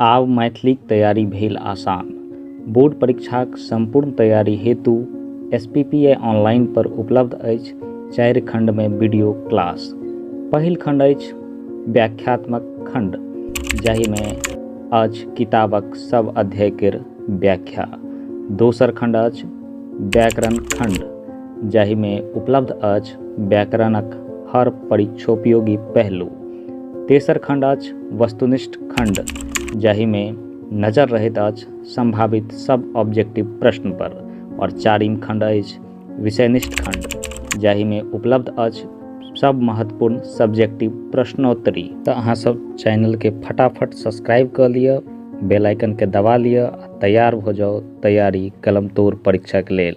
आब मैथिलीक तैयारी भेल आसान। बोर्ड परीक्षाक संपूर्ण तैयारी हेतु एसपीपीआई ऑनलाइन पर उपलब्ध अछि चारि खंड मे वीडियो क्लास। पहिल खंड अछि व्याख्यात्मक खंड जाहि मे अछि किताबक सब अध्याय केर व्याख्या। दोसर खंड अछि व्याकरण खंड जाहि मे उपलब्ध अछि व्याकरणक हर परीक्षोपयोगी पहलू। तेसर खण्ड अछि वस्तुनिष्ठ खण्ड जाहिमे नजर रहैत अछि सम्भावित सब ऑब्जेक्टिव प्रश्न पर और चारिम खण्ड अछि विषयनिष्ठ खण्ड जाहिमे उपलब्ध अछि सब महत्वपूर्ण सब्जेक्टिव प्रश्नोत्तरी तऽ अहाँ सब चैनल के फटाफट सब्सक्राइब कऽ लिअ बेल आइकन के दबा लिअ आ तैयार भऽ जाउ तैयारी कलम तोड़ परीक्षा के लेल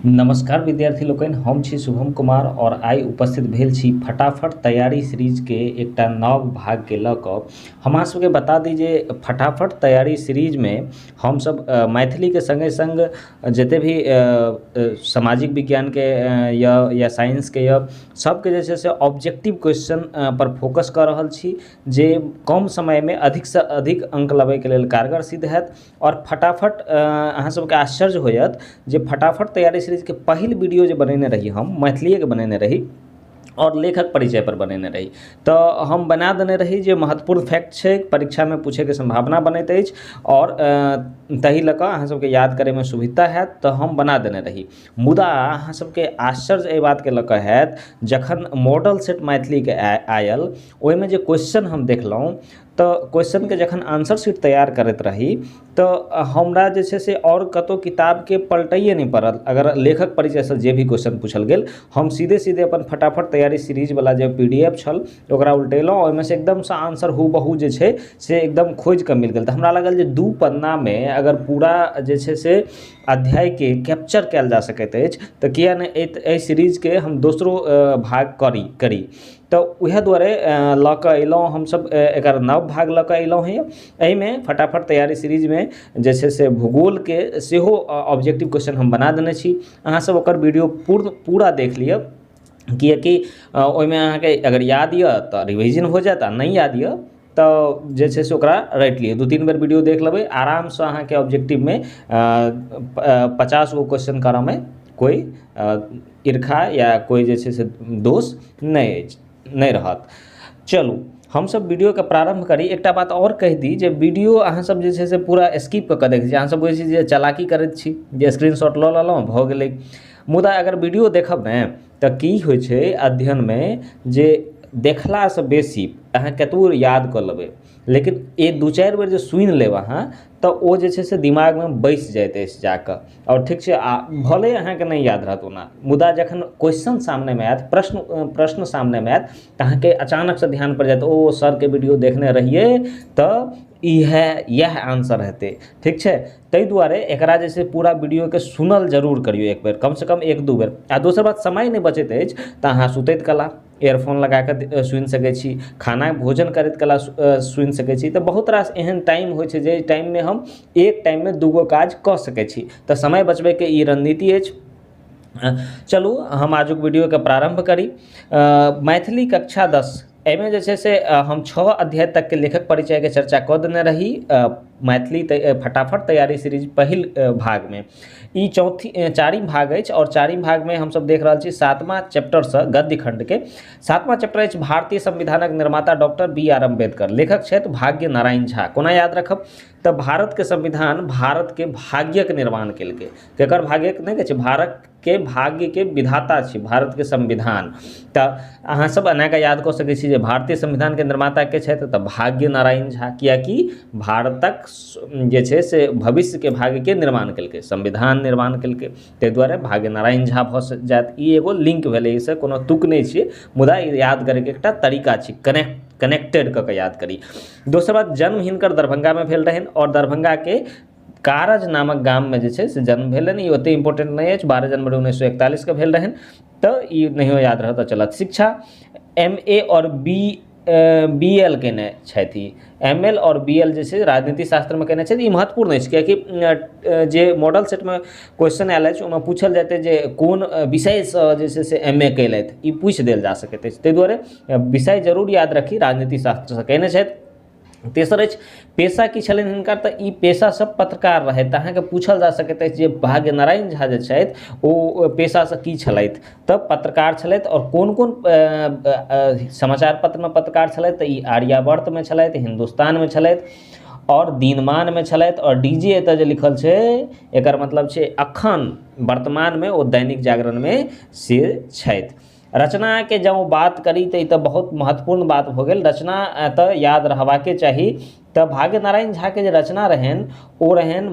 नमस्कार विद्यार्थी लोकनि हम छी शुभम कुमार और आइ उपस्थित भेल छी फटाफट तैयारी सीरीज के एकटा नव भाग के लऽ कऽ हमरा सबके बता दी जे फटाफट तैयारी सीरीज मे हमसब मैथिली के संगे संग जते भी सामाजिक विज्ञानके यऽ या साइंसके यऽ सबके जे छै से ऑब्जेक्टिव क्वेश्चन पर फोकस कऽ रहल छी जे कम समयमे अधिकसँ अधिक अङ्क लबैके लेल कारगर सिद्ध होयत आओर फटाफट अहाँ सबके आश्चर्य होयत जे फटाफट तैयारी सीरीजके पहिल वीडियो जे बनेने रही हम मैथिलियेके बनेने रही आओर लेखक परिचयपर बनेने रही तऽ हम बना देने रही जे महत्वपूर्ण फैक्ट छै परीक्षामे पूछैके सम्भावना बनैत अछि आओर ताहि लऽ कऽ अहाँसबके याद करैमे सुभिता हैत तऽ हम बना देने रही मुदा अहाँसबके आश्चर्य एहि बातके लऽ कऽ हैत जखन मॉडल सेट मैथिलीके आएल ओहिमे जे क्वेश्चन हम देखलहुँ तऽ क्वेश्चन के जखन आन्सर शीट तैयार करैत रही तऽ हमरा जे छै से आओर कतौ किताब के पलटैया नहि परल अगर लेखक परिचय सऽ जे भी क्वेश्चन पूछल गेल हम सीधे सीधे अपन फटाफट तैयारी सीरीज बला जे पी डी एफ छल ओकरा उलटेलहुॅं ओहिमे सऽ एकदम सऽ आन्सर हूबहू जे छै से एकदम खोजि कऽ मिल गेल तऽ हमरा लागल जे दू पन्ना मे अगर पूरा जे छै से अध्याय के कैप्चर कयल जा सकैत अछि तऽ किए नहि एहि सीरीज के हम दोसरो भाग करी तऽ वएह दुआरे लऽ कऽ अएलहुँ हमसब एकर नव भाग लऽ कऽ अएलहुँ हँ एहिमे फटाफट तैआरी सीरीजमे जे छै से भूगोलके सेहो ऑब्जेक्टिव क्वेश्चन हम बना देने छी अहाँसब ओकर वीडिओ पूर्ण पूरा देखि लिअऽ कियाकि ओहिमे अहाँके अगर याद अइ तऽ रिवीजन हो जाएत आओर नहि याद अइ तऽ जे छै से ओकरा राखि लियौ दू तीन बेर वीडियो देख लेबै आरामसँ अहाँके ऑब्जेक्टिवमे पचास गो क्वेश्चन करऽमे कोइ ईर्खा या कोइ जे छै से दोष नहि अछि नहि रहत चलू हमसब वीडियोके प्रारम्भ करी एकटा बात आओर कहि दी जे वीडियो अहाँ सब जे छै से पूरा स्किप कऽ कऽ देखै छी अहाँ सब बुझै छी जे चलाकी करैत छी जे स्क्रीनशॉट लऽ लेलहुँ भऽ गेलै मुदा अगर वीडियो देखब ने तऽ की होइ छै अध्ययनमे जे देखला सऽ बेसी अहाँ कतबो याद कऽ लेबै लेकिन एक दू चारि बेर जे सुनि लेब अहाँ तऽ ओ जे छै से दिमागमे बैसि जायत अछि जाकऽ आओर ठीक छै आ भले अहाँके नहि याद रहत ओना मुदा जखन क्वेश्चन सामनेमे आयत प्रश्न प्रश्न सामनेमे आयत तऽ अहाँके अचानक सऽ ध्यान पड़ि जायत ओ सरके वीडियो देखने रहियै तऽ इएह इएह आन्सर हेतै ठीक छै ताहि दुआरे एकरा जे छै पूरा वीडियोके सुनल जरूर करियौ एक बेर कम से कम एक दू बेर आ दोसर बात समय नहि बचैत अछि तऽ अहाँ सुतैत कला इयरफोन लगाके सुनि सकै छी खाना भोजन करैत कला सुनि सकै छी तऽ बहुत रास एहन टाइम होइ छै जाहि टाइममे हम एक टाइममे दू गो काज कऽ सकै छी तऽ समय बचबैके ई रणनीति अछि चलू हम आजुक वीडियोके प्रारम्भ करी मैथिली कक्षा दस एहिमे जे छै से हम छओ अध्याय तकके लेखक परिचयके चर्चा कऽ देने रही मैथिली तऽ फटाफट तैयारी सीरीज पहिल भागमे ई चौथी चारिम भाग अछि आओर चारिम भागमे हमसभ देख रहल छी सातमा चैप्टरसँ गद्य खण्डके सातमा चैप्टर अछि भारतीय संविधानक निर्माता डॉक्टर बी आर अम्बेडकर लेखक छथि भाग्य नारायण झा कोना याद राखब तऽ भारतके संविधान भारतके भाग्यके निर्माण केलकै केकर भाग्यके नहि कहै छै भारत के भाग्यके विधाता छी भारतके संविधान तऽ अहाँ सब एना कऽ याद कऽ सकय छी जे भारतीय संविधानके निर्माता के छथि तऽ भाग्य नारायण झा किएक कि भारतक जे छै से भविष्यके भाग्यके निर्माण कयलकइ संविधान निर्माण कयलकइ तै दुआरे भाग्य नारायण झा भऽ जायत ई एगो लिंक भेलय अइसँ कोनो तुक नहि छियै मुदा ई याद करयके एकटा तरीका छी कने कनेक्टेड कऽ कऽ याद करी दोसर बात जन्म हिनकर दरभंगामे भेल रहनि आओर दरभंगाके कारज नामक गाममे जे छै से जन्म भेलनि ई ओतेक इम्पोर्टेन्ट नहि अछि बारह जनवरी उन्नैस सए एकतालिसके भेल रहनि तऽ ई नहियो याद रहत तऽ चलत शिक्षा एम ए आओर बी बी एल कयने छथि ई एम एल आओर बी एल जे छै राजनीति शास्त्रमे कयने छथि ई महत्वपूर्ण अछि किएकि जे मॉडल सेटमे क्वेश्चन आयल अछि ओहिमे पूछल जाइत अछि जे कोन विषयसँ जे छै से एम ए कयलथि ई पूछि देल जा सकैत अछि ताहि दुआरे विषय जरूर याद राखी राजनीति शास्त्रसँ कयने छथि तेसर अछि पेशा की छलनि हिनकर तऽ ई पेशासँ पत्रकार रहथि तऽ अहाँके पूछल जा सकैत अछि जे भाग्य नारायण झा जे छथि ओ पेशासँ की छलथि तऽ पत्रकार छलथि आओर कोन कोन समाचार पत्रमे पत्रकार छलथि तऽ ई आर्यावर्तमे छलथि हिन्दुस्तानमे छलथि आओर दिनमानमे छलथि आओर डी जे एतऽ जे लिखल छै एकर मतलब छै अखन वर्तमानमे ओ दैनिक जागरणमे से छथि रचनाके जँ बात करी तऽ ई तऽ बहुत महत्वपूर्ण बात भऽ गेल रचना तऽ याद रहबाके चाही तऽ भाग्य नारायण झाके जे रचना रहनि ओ रहनि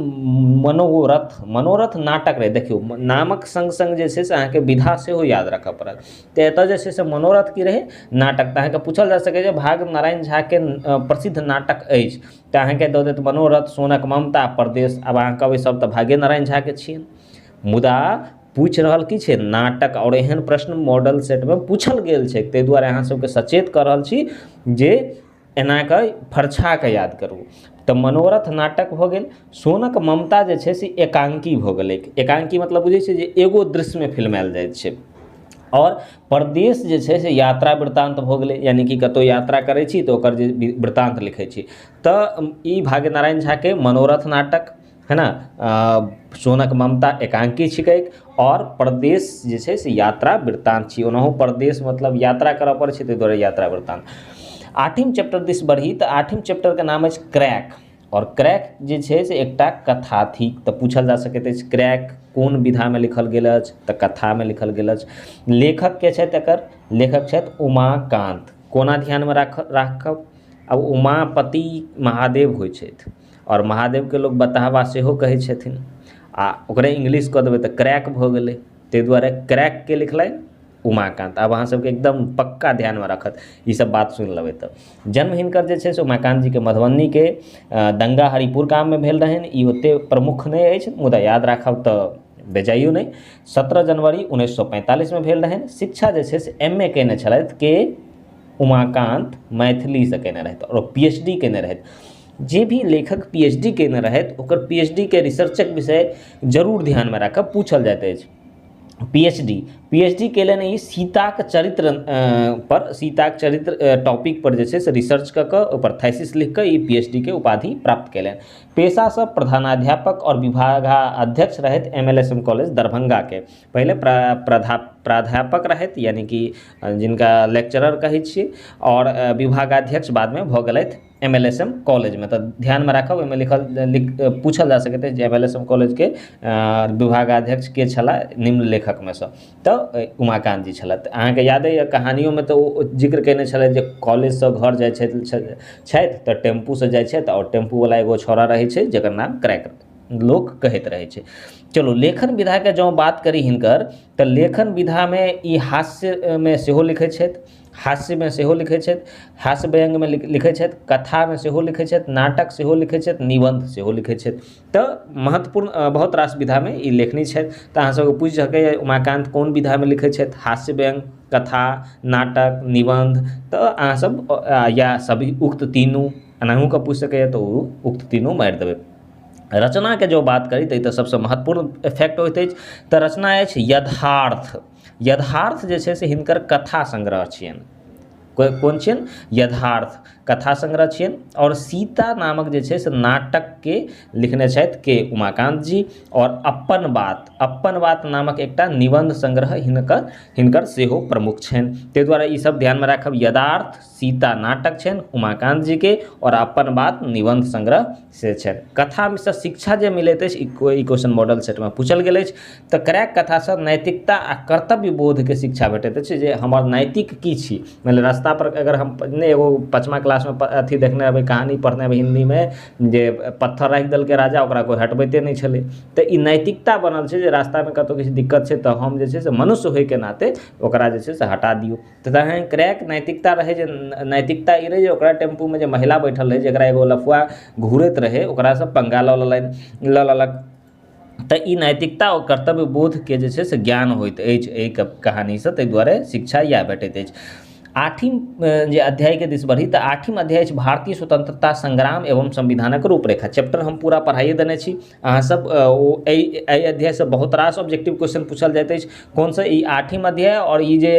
मनोरथ मनोरथ नाटक रहै देखियौ नामक सङ्ग सङ्ग जे छै से अहाँके विधा सेहो याद राखऽ पड़त तऽ एतऽ जे छै से मनोरथ की रहै नाटक तऽ अहाँके पूछल जा सकैए जे भाग्य नारायण झाके प्रसिद्ध नाटक अछि तऽ अहाँके दऽ देत मनोरथ सोनक ममता परदेश आब अहाँ कहबै सब तऽ भाग्य नारायण झाके छियनि मुदा पूछि रहल की छै नाटक आओर एहन प्रश्न मॉडल सेटमे पूछल गेल छै तै दुआरे अहाँ सबके सचेत कऽ रहल छी जे एना कऽ फरछा कऽ याद करू तऽ मनोरथ नाटक भऽ गेल सोनक ममता जे छै से एकांकी भऽ गेलै एकांकी मतलब बुझै छियै जे एगो दृश्यमे फिल्मायल जाइ छै आओर परदेश जे छै से यात्रा वृतान्त भऽ गेलै यानि कि कतौ यात्रा करै छी तऽ ओकर जे वृतान्त लिखै छी तऽ ई भाग्य नारायण झाके मनोरथ नाटक है ने सोनक ममता एकांकी छिकै आओर परदेश जे छै से यात्रा वृतांत छियै ओनाहु परदेश मतलब यात्रा करऽ पड़ै छै ताहि दुआरे यात्रा वृतांत आठिम चैप्टर दिस बढ़ी तऽ आठिम चैप्टरके नाम अछि क्रैक आओर क्रैक जे छै से एकटा कथा थिक तऽ पूछल जा सकैत अछि क्रैक कोन विधामे लिखल गेल अछि तऽ कथामे लिखल गेल अछि लेखक के छथि एकर लेखक छथि उमाकान्त कोना ध्यानमे राखब राखब आब उमापति महादेव होइ छथि आओर महादेबके लोक बताबा सेहो कहै छथिन आ ओकरे इंग्लिश कऽ देबै तऽ क्रैक भऽ गेलै ताहि दुआरे क्रैकके लिखलथि उमाकान्त आब अहाँ सबके एकदम पक्का ध्यानमे राखत ई सब बात सुनि लेबै तऽ जन्म हिनकर जे छै से उमाकान्त जीके मधुबनीके दंगा हरिपुर गाममे भेल रहनि ई ओते प्रमुख नहि अछि मुदा याद राखब तऽ बेजाइयो नहि सत्रह जनवरी उन्नैस सए पैंतालिसमे भेल रहनि शिक्षा जे छै से एम ए कयने छलथि के उमाकान्त मैथिलीसँ कयने रहथि आओर पी एच डी कयने रहथि जे भी लेखक पी एच डी कयने रहथि ओकर पी एच डी के रिसर्चक विषय जरूर ध्यानमे राखब पूछल जाइत अछि P H D P H D कयलनि ई सीताके चरित्र पर सीताके चरित्र टॉपिक पर जे छै से रिसर्च कऽ कऽ ओहिपर थैसिस लिख कऽ ई पी एच डी के उपाधि प्राप्त कयलनि पेशासँ प्रधानाध्यापक आओर विभागा अध्यक्ष रहथि M L S M college दरभंगाके पहिले प्रा प्रधा प्राध्यापक रहथि यानि कि जिनका लेक्चरर कहै छियै आओर विभागाध्यक्ष बादमे भऽ गेलथि एम एल एस एम कॉलेजमे तऽ ध्यानमे राखब ओहिमे लिखल लिख पूछल जा सकैत अछि जे एम एल एस एम कॉलेजके विभागाध्यक्ष के छलाह निम्न लेखकमे सँ तऽ उमाकान्त जी छलथि अहाँकेँ यादे यऽ कहानियोमे तऽ ओ जिक्र कयने छलथि जे कॉलेजसँ घर जाइत छथि छथि तऽ टेम्पूसँ जाइत छथि आओर टेम्पू बला एगो छौड़ा रहैत छै जेकर नाम क्रैक लोक कहैत रहैत छै चलू लेखन विधाके जँ बात करी हिनकर तऽ लेखन विधामे ई हास्यमे सेहो लिखैत छथि हास्यमे सेहो लिखै छथि हास्य व्यंग्यमे लिखै छथि कथामे सेहो लिखै छथि नाटक सेहो लिखै छथि निबन्ध सेहो लिखै छथि तऽ महत्वपूर्ण बहुत रास विधामे ई लेखनी छथि तऽ अहाँ सबके पूछि सकै यऽ उमाकान्त कोन विधामे लिखै छथि हास्य व्यंग्य कथा नाटक निबन्ध तऽ अहाँ सब या सब उक्त तीनू एनाहु कऽ पूछि सकैय तऽ ओ उक्त तीनू मारि देबै रचनाके जँ बात करी तऽ ई तऽ सबसँ महत्वपूर्ण फैक्ट होइत अछि तऽ रचना अछि यथार्थ यथार्थ जे छै से हिनकर कथा संग्रह छियनि कोइ कोन छियनि यथार्थ कथा संग्रह छियनि आओर सीता नामक जे छै से नाटकके लिखने छथि के उमाकान्त जी आओर अपन बात अपन बात नामक एकटा निबन्ध संग्रह हिनकर हिनकर सेहो प्रमुख छनि तै दुआरे ई सब ध्यानमे राखब यदार्थ सीता नाटक छनि उमाकान्त जीके आओर अपन बात निबन्ध संग्रह से छनि कथासँ शिक्षा जे मिलैत अछि ई क्वेश्चन मॉडल सेटमे पूछल गेल अछि तऽ क्रैक कथासँ नैतिकता आ कर्तव्य बोधके शिक्षा भेटैत अछि जे हमर नैतिक की छी मानि लिअ रस्ता पर अगर हम नहि एगो पचमा क्लासमे अथी देखने हेबै कहानी पढ़ने हेबै हिन्दीमे जे पत्थर राखि देलकै राजा ओकरा कोइ हटबैते नहि छलै तऽ ई नैतिकता बनल छै जे रस्तामे कतौ किछु दिक्कत छै तऽ हम जे छै से मनुष्य होइके नाते ओकरा जे छै से हटा दियौ तखन क्रैक नैतिकता रहै जे नैतिकता ई रहै जे ओकरा टेम्पूमे जे महिला बैठल रहै जेकरा एगो लफुआ घूरैत रहै ओकरासँ पङ्गा लऽ लेलनि लऽ लेलक तऽ ई नैतिकता आओर कर्तव्य बोधके जे छै से ज्ञान होइत अछि अइ कहानीसँ तै दुआरे शिक्षा इएह भेटैत अछि आठिम जे अध्यायके दिस बढ़ी तऽ आठिम अध्याय अछि भारतीय स्वतन्त्रता सङ्ग्राम एवं संविधानक रूपरेखा चैप्टर हम पूरा पढ़ाइए देने छी अहाँ सब ओ एहि अध्याय सऽ बहुत रास ऑब्जेक्टिव क्वेश्चन पूछल जाइत अछि कोन सऽ ई आठम अध्याय आओर ई जे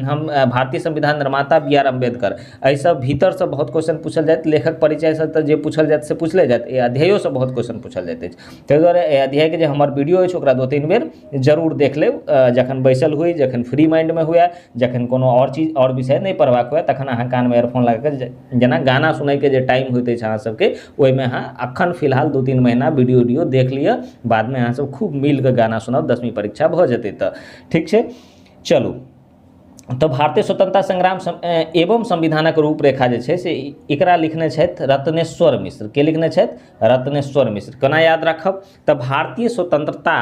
हम भारतीय संविधान निर्माता बी आर अम्बेडकर एहि सऽ भीतर सऽ बहुत क्वेश्चन पूछल जायत लेखक परिचय सऽ तऽ जे पूछल जायत से पूछले जायत एहि अध्यायो सऽ बहुत क्वेश्चन पूछल जाइत अछि ताहि दुआरे एहि अध्याय के जे हमर वीडियो अछि ओकरा दू तीन बेर जरूर देख लेब जखन बैसल हुए जखन फ्री माइंडमे हुए जखन कोनो आओर चीज आओर विषय नहि पढ़बाक हुए तखन अहाँ कानमे एयरफोन लगा कऽ जेना गाना सुनैके जे टाइम होइत अछि अहाँसभके ओहिमे अहाँ एखन फिलहाल दू तीन महीना वीडियो उडियो देख लिअ बादमे अहाँसभ खूब मिलि कऽ गाना सुनब दसवीं परीक्षा भऽ जेतै तऽ ठीक छै चलू तऽ भारतीय स्वतंत्रता संग्राम एवं संविधानक रूपरेखा जे छै से एकरा लिखने छथि रत्नेश्वर मिश्र के लिखने छथि रत्नेश्वर मिश्र केना याद राखब तऽ भारतीय स्वतंत्रता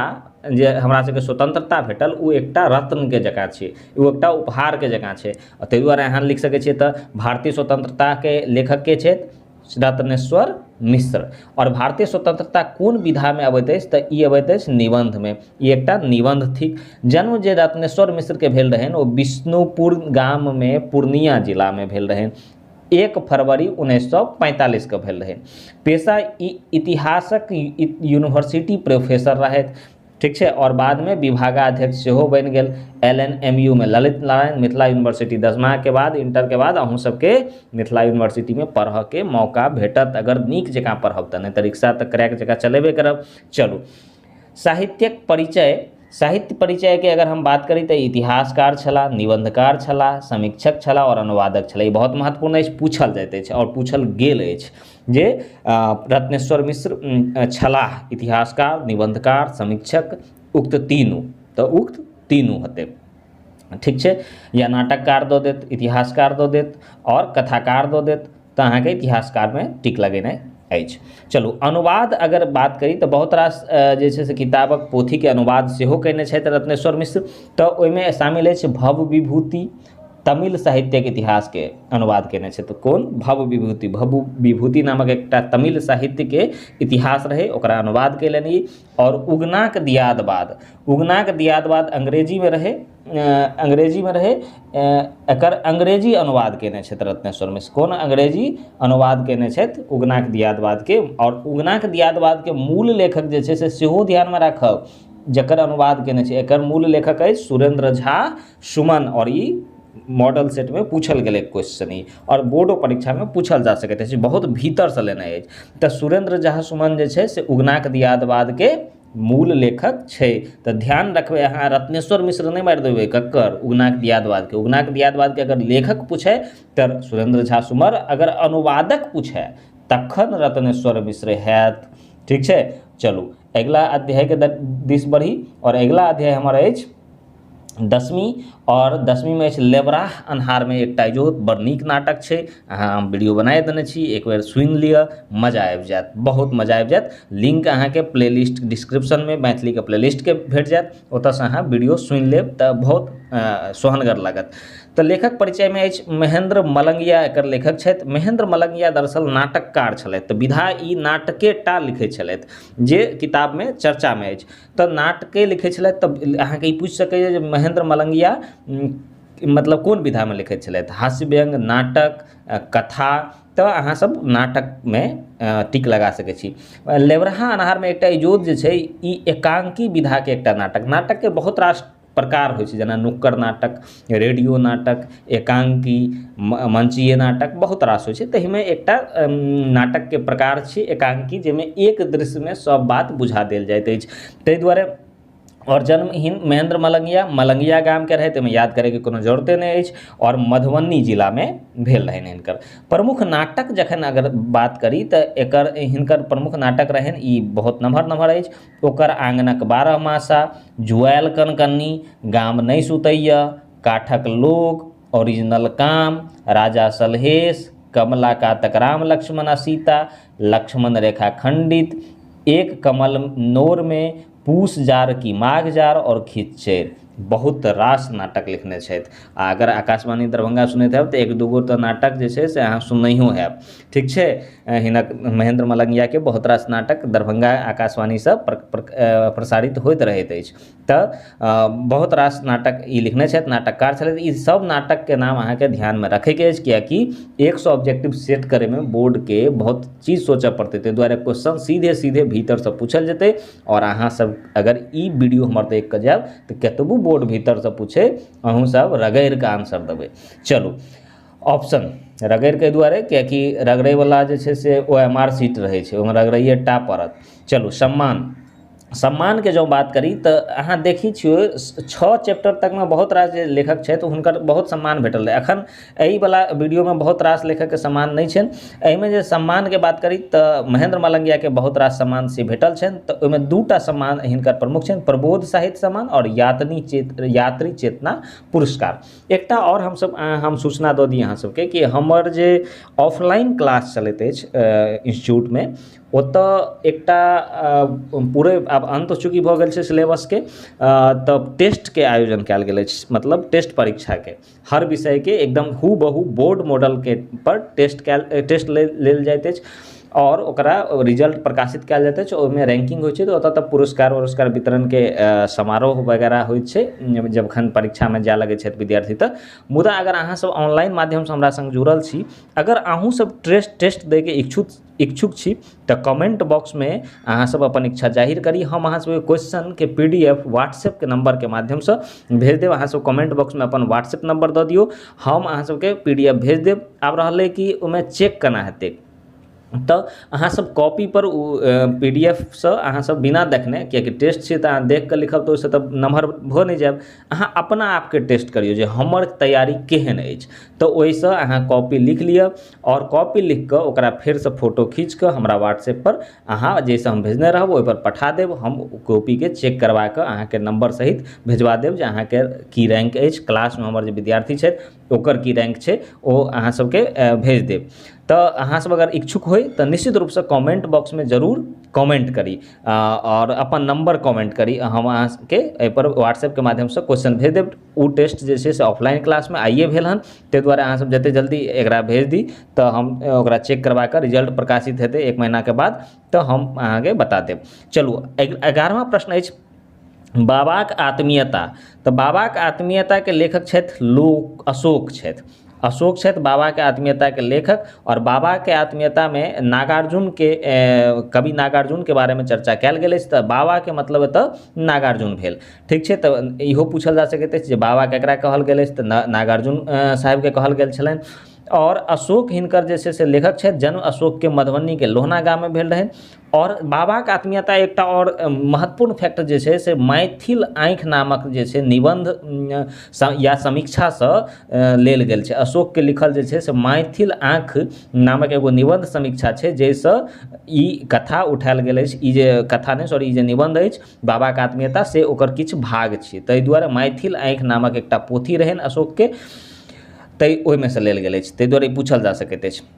जे हमरा सबके स्वतंत्रता भेटल ओ एकटा रत्नके जकाँ छै ओ एकटा उपहारके जकाँ छै ताहि दुआरे अहाँ लिख सकै छियै तऽ भारतीय स्वतंत्रताके लेखक के छथि सिद्धार्थनेश्वर मिश्र आओर भारतीय स्वतंत्रता कोन विधा में अबैत अछि तऽ ई अबैत अछि निबंध में ई एकटा निबंध थिक जन्म जे रत्नेश्वर मिश्र के भेल रहनि ओ विष्णुपुर गाम में पूर्णिया जिला में भेल रहनि एक फरवरी उन्नैस सए पैंतालीस के भेल रहनि पेशा ई इतिहासक यूनिवर्सिटी प्रोफेसर रहथि ठीक छै आओर बादमे विभागाध्यक्ष सेहो बनि गेल एल एन एम यू मे ललित नारायण मिथिला यूनिवर्सिटी दसमाके बाद इंटरके बाद अहूँ सबके मिथिला यूनिवर्सिटीमे पढ़ऽके मौका भेटत अगर नीक जकाँ पढ़ब तऽ नहि तऽ रिक्शा तऽ क्रैक जकाँ चलेबे करब चलू साहित्यक परिचय साहित्य परिचयके अगर हम बात करी तऽ इतिहासकार छलाह निबंधकार छलाह समीक्षक छलाह आओर अनुवादक छलाह ई बहुत महत्वपूर्ण अछि पूछल जाइत अछि आओर पूछल गेल अछि जे रत्नेश्वर मिश्र छलाह इतिहासकार निबन्धकार समीक्षक उक्त तीनू तऽ उक्त तीनू होतै ठीक छै या नाटककार दऽ देत इतिहासकार दऽ देत आओर कथाकार दऽ देत तऽ अहाँके इतिहासकारमे टिक लगेनाइ अछि चलू अनुवाद अगर बात करी तऽ बहुत रास जे छै से किताबक पोथीके अनुवाद सेहो कयने छथि रत्नेश्वर मिश्र तऽ ओहिमे शामिल अछि भव विभूति तमिल साहित्यक इतिहासके अनुवाद केने छथि कोन भव विभूति भव विभूति नामक एकटा तमिल साहित्यके इतिहास रहै ओकरा अनुवाद कयलनि ई आओर उगनाक दियादवाद उगनाक दियादवाद अंग्रेजीमे रहै अंग्रेजीमे रहै एकर अंग्रेजी अनुवाद केने छथि रत्नेश्वर मिश्र कोन अंग्रेजी अनुवाद केने छथि उगनाक दियादवादके आओर उगनाक दियादवादके मूल लेखक जे छै से सेहो ध्यानमे राखब जकर अनुवाद केने छै एकर मूल लेखक अछि सुरेन्द्र झा सुमन आओर ई मॉडल सेटमे पूछल गेलै क्वेश्चन ई आओर बोर्डो परीक्षामे पूछल जा सकैत अछि बहुत भीतरसँ लेने अछि तऽ सुरेन्द्र झा सुमन जे छै से उगनाक दियादवादके मूल लेखक छै तऽ ध्यान रखबै अहाँ रत्नेश्वर मिश्र नहि मारि देबै ककर उगनाक दियादवादके उगनाक दियादवादके अगर लेखक पूछै तऽ सुरेन्द्र झा सुमर अगर अनुवादक पूछै तखन रत्नेश्वर मिश्र हैत ठीक छै चलू अगिला अध्यायके दिस बढ़ी आओर अगिला अध्याय हमर अछि दसमी आओर दसमीमे अछि लेबराह अन्हारमे एकटा इहो बड़ नीक नाटक छै अहाँ हम वीडियो बनाय देने छी एक बेर सुनि लिअ मजा आबि जायत बहुत मजा आबि जायत लिंक अहाँके प्ले लिस्ट डिस्क्रिप्शनमे मैथिलीके प्ले लिस्टके भेट जायत ओतऽसँ अहाँ वीडियो सुनि लेब तऽ बहुत सोहनगर लागत तऽ लेखक परिचयमे अछि महेन्द्र मलंगिया एकर लेखक छथि महेन्द्र मलंगिया दरअसल नाटककार छलथि तऽ विधा ई नाटके टा लिखय छलथि जे किताबमे चर्चामे अछि तऽ नाटके लिखै छलथि तऽ अहाँके ई पूछि सकैया जे महेन्द्र मलंगिया मतलब कोन विधामे लिखै छलथि हास्य व्यंग नाटक कथा तऽ अहाँ सब नाटकमे टिक लगा सकै छी लेबरहा अन्हारमे एकटा इजोत जे छै ई एकांकी विधाके एकटा नाटक नाटकके बहुत रास प्रकार होइ छै जेना नुक्कड़ नाटक रेडियो नाटक एकांकी मंचीय नाटक बहुत रास होइ छै तहिमे एकटा नाटकके प्रकार छी एकांकी जाहिमे एक दृश्यमे सब बात बुझा देल जाइत अछि ताहि दुआरे आओर जन्महीन महेन्द्र मलंगिया मलंगिया गामके रहथि एहिमे याद करैके कोनो जरूरते नहि अछि आओर मधुबनी जिलामे भेल रहनि हिनकर प्रमुख नाटक जखन अगर बात करी तऽ एकर हिनकर प्रमुख नाटक रहनि ई बहुत नमहर नमहर अछि ओकर आँगनक बारहमासा जुआएल कनकन्नी गाम नहि सुतैए काठक लोक ओरिजिनल काम राजा सलहेश कमला कातक राम लक्ष्मण आ सीता लक्ष्मण रेखा खंडित एक कमल नोर मे पूस जार कि माघ जार और खिच्चैर बहुत रास नाटक लिखने छथि आ अगर आकाशवाणी दरभंगा सुनैत हैब तऽ एक दू गो तऽ नाटक जे छै से अहाँ सुननैहो हैब ठीक छै हिनक महेन्द्र मलंगियाके बहुत रास नाटक दरभंगा आकाशवाणीसँ प्रसारित होइत रहैत अछि तऽ बहुत रास नाटक ई लिखने छथि नाटककार छलथि ई सब नाटकके नाम अहाँके ध्यानमे रखयके अछि किएक कि एक सओ ऑब्जेक्टिव सेट करयमे बोर्डके बहुत चीज सोचऽ पड़तय तै दुआरे क्वेश्चन सीधे सीधे भीतरसँ पूछल जेतय आओर अहाँ सब अगर ई वीडियो हमर देखिकऽ जायब तऽ कतबो बोर्ड भीतरसँ पूछय अहुँ सब रगड़िकऽ आंसर देबय चलू ऑप्शन रगड़ि कऽ एहि दुआरे किएकि रगड़यवला जे छै से ओ एम आर सीट रहै छै ओहिमे रगड़ैए टा पड़त चलू सम्मान सम्मानके जँ बात करी तऽ अहाँ देखै छियै छओ चैप्टर तकमे बहुत रास जे लेखक छथि हुनकर बहुत सम्मान भेटल रहै एखन एहिवला वीडियोमे बहुत रास लेखकके सम्मान नहि छनि एहिमे जे सम्मानके बात करी तऽ महेन्द्र मलंगियाके बहुत रास सम्मान से भेटल छनि तऽ ओहिमे दू टा सम्मान हिनकर प्रमुख छनि प्रबोध साहित्य सम्मान आओर यातनी चेत यात्री चेतना पुरस्कार एकटा आओर हमसब हम सूचना दऽ दी अहाँ सबके कि हमर जे ऑफलाइन क्लास चलैत अछि इन्स्टिट्यूटमे ओतऽ एकटा पूरे आब अन्त चूँकि भऽ गेल छै सिलेबसके तऽ टेस्टके आयोजन कयल गेल अछि मतलब टेस्ट परीक्षाके हर विषयके एकदम हूबहू बोर्ड मॉडलके पर टेस्ट कयल टेस्ट लेल जाइत अछि आओर ओकरा रिजल्ट प्रकाशित कयल जाइत अछि ओहिमे रैंकिंग होइ छै तऽ ओतऽ तऽ पुरस्कार उरस्कार वितरणके समारोह वगैरह होइ छै जखन परीक्षामे जाय लगै छथि विद्यार्थी तऽ मुदा अगर अहाँ सब ऑनलाइन माध्यमसँ हमरा सङ्ग जुड़ल छी अगर अहूँ सब ट्रेस टेस्ट दै के इच्छुक इच्छुक छी तऽ कमेन्ट बॉक्समे अहाँ सब अपन इच्छा जाहिर करी हम अहाँ सबके क्वेश्चनके पी डी एफ व्हाट्सएपके नम्बरके माध्यमसँ भेज देब अहाँ सब कमेन्ट बॉक्समे अपन व्हाट्सएप नम्बर दऽ दियौ हम अहाँ सबके पी डी एफ भेज देब आब रहलै कि ओहिमे चेक केना हेतै तऽ अहाँ सब कॉपीपर ओ पी डी एफ सँ अहाँ सब बिना देखने किएककि टेस्ट छियै तऽ अहाँ देखकऽ लिखब तऽ ओइसँ तऽ नमहर भऽ नहि जायब अहाँ अपना आपके टेस्ट करियौ जे हमर तैयारी केहन अछि तऽ ओइसँ अहाँ कॉपी लिख लिऽ आओर कॉपी लिखकऽ ओकरा फेरसँ फोटो खीचकऽ हमरा व्हाट्सएपपर अहाँ जैसँ हम भेजने रहब ओइपर पठा देब हम ओ कॉपीके चेक करबाकऽ अहाँके नम्बर सहित भेजबा देब जे अहाँके की रैंक अछि क्लासमे हमर जे विद्यार्थी छथि ओकर की रैंक छै ओ अहाँ सबके भेज देब तऽ अहाँ सब अगर इच्छुक होइ तऽ निश्चित रूपसँ कमेंट बॉक्समे जरूर कमेंट करी आओर अपन नंबर कमेंट करी हम अहाँ सबके एहिपर व्हाट्सएपके माध्यमसँ क्वेश्चन भेज देब ओ टेस्ट जे छै से ऑफलाइन क्लासमे आइए भेल हन ताहि दुआरे अहाँ सब जते जल्दी एकरा भेज दी तऽ हम ओकरा चेक करबा कऽ रिजल्ट प्रकाशित हेतै एक महीनाके बाद तऽ हम अहाँके बता देब चलू एगारहवाँ प्रश्न अछि बाबाक आत्मीयता तऽ बाबाक आत्मीयताके लेखक छथि लोक अशोक छथि अशोक छथि बाबाके आत्मीयताके लेखक आओर बाबाके आत्मीयतामे नागार्जुनके कवि नागार्जुनके बारेमे चर्चा कयल गेल अछि तऽ बाबाके मतलब एतऽ नागार्जुन भेल ठीक छै तऽ इहो पूछल जा सकैत अछि जे बाबा ककरा कहल गेल अछि तऽ ना नागार्जुन साहबके कहल गेल छलनि आओर अशोक हिनकर जे छै से लेखक छथि जन्म अशोकके मधुबनीके लोहना गाममे भेल रहनि आओर बाबाके आत्मीयता एकटा आओर महत्वपूर्ण फैक्टर जे छै से मैथिल आँखि नामक जे छै निबन्ध या समीक्षासँ लेल गेल छै अशोकके लिखल जे छै से मैथिल आँखि नामक एगो निबन्ध समीक्षा छै जाहिसँ ई कथा उठायल गेल अछि ई जे कथा नहि सॉरी ई जे निबन्ध अछि बाबाके आत्मीयता से ओकर किछु भाग छियै ताहि दुआरे मैथिल आँखि नामक एकटा पोथी रहनि अशोकके ताहि ओहिमेसँ लेल गेल अछि ताहि दुआरे ई पूछल जा सकैत अछि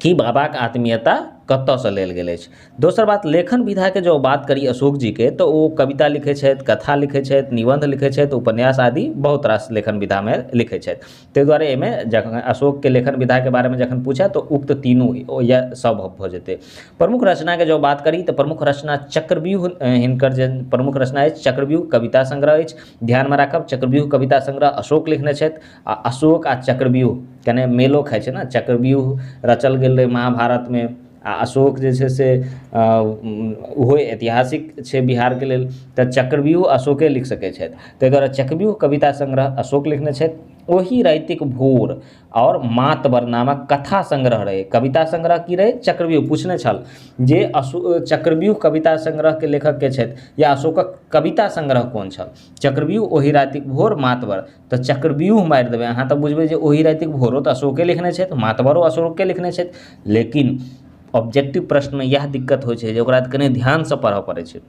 कि बाबाक आत्मीयता कतऽसँ लेल गेल अछि दोसर बात लेखन विधाके जँ बात करी अशोक जीके तऽ ओ कविता लिखै छथि कथा लिखै छथि निबन्ध लिखै छथि उपन्यास आदि बहुत रास लेखन विधामे लिखै छथि तै दुआरे अइमे जखन अशोकके लेखन विधाके बारेमे जखन पूछै तऽ उक्त तीनू या सब भऽ जेतै प्रमुख रचनाके जँ बात करी तऽ प्रमुख रचना चक्रव्यूह हिनकर जे प्रमुख रचना अछि चक्रव्यूह कविता संग्रह अछि ध्यानमे राखब चक्रव्यूह कविता संग्रह अशोक लिखने छथि आ अशोक आ चक्रव्यूह कने मेलो खाइ छै ने चक्रव्यूह रचल गेल रहै महाभारतमे आ अशोक जे छै से ओहो ऐतिहासिक छै बिहारके लेल तऽ चक्रव्यूह अशोके लिख सकै छथि ताहि दुआरे चक्रव्यूह कविता संग्रह अशोक लिखने छथि ओहि रातिक भोर आओर मातवर नामक कथा संग्रह रहै कविता संग्रह की रहै चक्रव्यूह पूछने छल जे अशो चक्रव्यूह कविता संग्रहके लेखक के छथि या अशोकक कविता संग्रह कोन छल चक्रव्यूह ओहि रातिक भोर मातवर तऽ चक्रव्यूह मारि देबय अहाँ तऽ बुझबय जे ओइ रातिक भोरो तऽ अशोके लिखने छथि मातबरो अशोके लिखने छथि लेकिन ऑब्जेक्टिव प्रश्नमे इएह दिक्कत होइ छै जे ओकरा कनी ध्यानसँ पढ़ऽ पड़य छै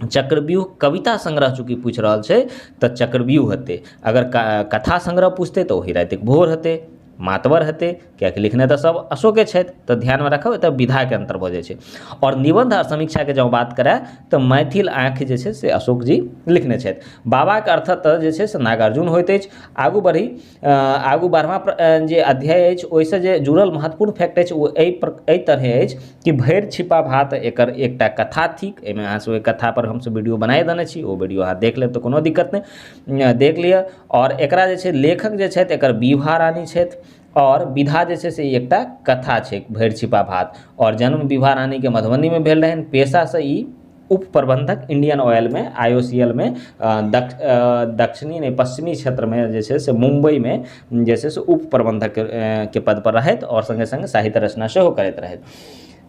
चक्रव्यूह कविता संग्रह चूँकि पुछि रहल छै तऽ चक्रव्यूह हेतय अगर कथा संग्रह पुछतय तऽ ओही रातिक भोर हेतय मातवर हेतै किएकि लिखने तऽ सब अशोके छथि तऽ ध्यानमे राखब एतऽ विधाके अन्तर भऽ जाइ छै आओर निबन्ध आओर समीक्षाके जँ बात करै तऽ मैथिल आँखि जे छै से अशोक जी लिखने छथि बाबाके अर्थक तऽ जे छै से नागार्जुन होइत अछि आगू बढ़ी आगू बढ़बा जे अध्याय अछि ओइसँ जे जुड़ल महत्वपूर्ण फैक्ट अछि ओ अइ अइ तरहे अछि कि भरि छिपा भात एकर एकटा कथा थिक अइमे अहाँ सब ओइ कथापर हमसब वीडियो बनाइए देने छी ओ वीडियो अहाँ देख लेब तऽ कोनो दिक्कत नहि देख लिऽ आओर एकरा जे छै लेखक जे छथि एकर विभा रानी छथि आओर विधा जे छै से ई एकटा कथा छै भरि छिपा भात आओर जन्म विभा रानीके मधुबनीमे भेल रहनि पेशासँ ई उप प्रबन्धक इण्डियन ऑयलमे आइ ओ सी एल मे दक्ष दक्षिणी नहि पश्चिमी क्षेत्रमे जे छै से मुम्बइमे जे छै से उप प्रबन्धक के पदपर रहथि आओर सङ्गे सङ्गे साहित्य रचना सेहो करैत रहथि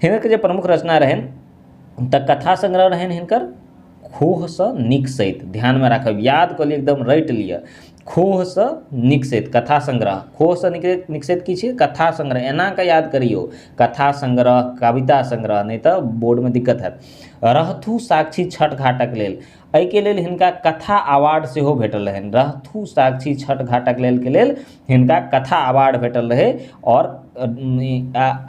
हिनक जे प्रमुख रचना रहनि तऽ कथा संग्रह रहनि हिनकर खोहसँ नीक सैत ध्यानमे राखब याद कऽ लिअ एकदम रटि लिअ खोहसँ नीक सैत कथा संग्रह खोहसँ नीक नीक सैत की छियै कथा संग्रह एना कऽ याद करियौ कथा संग्रह कविता संग्रह नहि तऽ बोर्डमे दिक्कत हैत रहथु साक्षी छठ घाटक लेल एहिके लेल हिनका कथा अवार्ड सेहो भेटल रहनि रहथु साक्षी छठ घाटक लेल के लेल हिनका कथा अवार्ड भेटल रहै आओर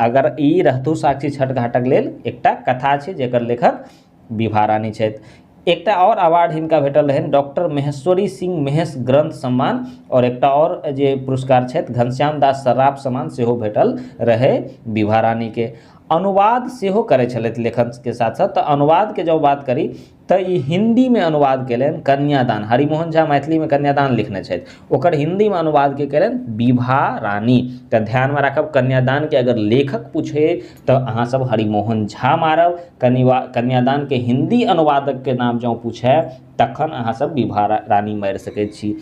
अगर ई रहथु साक्षी छठ घाटक लेल एकटा कथा छै जेकर लेखक विभा रानी छथि एकटा आओर अवार्ड हिनका भेटल रहनि डॉक्टर महेश्वरी सिंह महेश ग्रंथ सम्मान आओर एकटा आओर जे पुरस्कार छथि घनश्याम दास सर्राफ सम्मान सेहो भेटल रहै विभा रानीके अनुवाद सेहो करै छलथि लेखनके साथ साथ तऽ अनुवादके जँ बात करी तऽ ई हिन्दीमे अनुवाद केलनि कन्यादान हरिमोहन झा मैथिलीमे कन्यादान लिखने छथि ओकर हिन्दीमे अनुवाद के केलनि विभा रानी तऽ ध्यानमे राखब कन्यादानके अगर लेखक पूछै तऽ अहाँ सब हरिमोहन झा मारब कनिवा कन्यादानके हिन्दी अनुवादकके नाम जँ पूछै तखन अहाँ सब विभा रानी मारि सकैत छी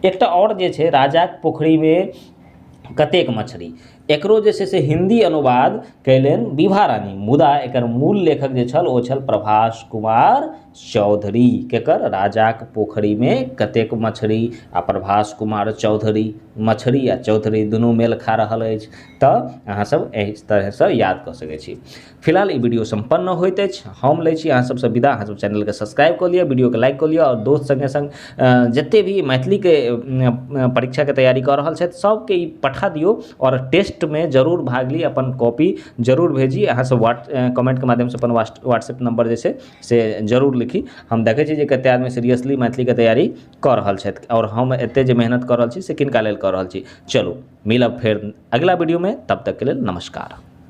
एकटा आओर जे छै राजाक पोखरिमे कतेक मछरी एकरो जे छै से हिन्दी अनुवाद कयलनि विभा रानी मुदा एकर मूल लेखक जे छल ओ छल प्रभास कुमार चौधरी केकर राजाक पोखरिमे कतेक मछरी आ प्रभास कुमार चौधरी मछरी आ चौधरी दुनू मेल खा रहल अछि तऽ अहाँसभ एहि तरहेसँ याद कऽ सकै छी फिलहाल ई वीडियो सम्पन्न होइत अछि हम लै छी अहाँ सबसँ विदा अहाँ सब चैनलके सब्सक्राइब कऽ लिअ वीडियोके लाइक कऽ लिअ आओर दोस्त सङ्गे सङ्ग जते भी मैथिलीके परीक्षाके तैयारी कऽ रहल छथि सबके ई पठा दियौ आओर टेस्टमे जरूर भाग ली अपन कॉपी जरूर भेजी अहाँ सब व्हाट कमेंटके माध्यमसँ अपन व्हाट्सएप नम्बर जे छै से जरूर लिखी हम देखै छी जे कते आदमी सीरियसली मैथिलीके तैयारी कऽ रहल छथि आओर हम एते जे मेहनत कऽ रहल छी से किनका लेल कऽ रहल छी चलू मिलब फेर अगिला वीडियोमे तब तकके लेल नमस्कार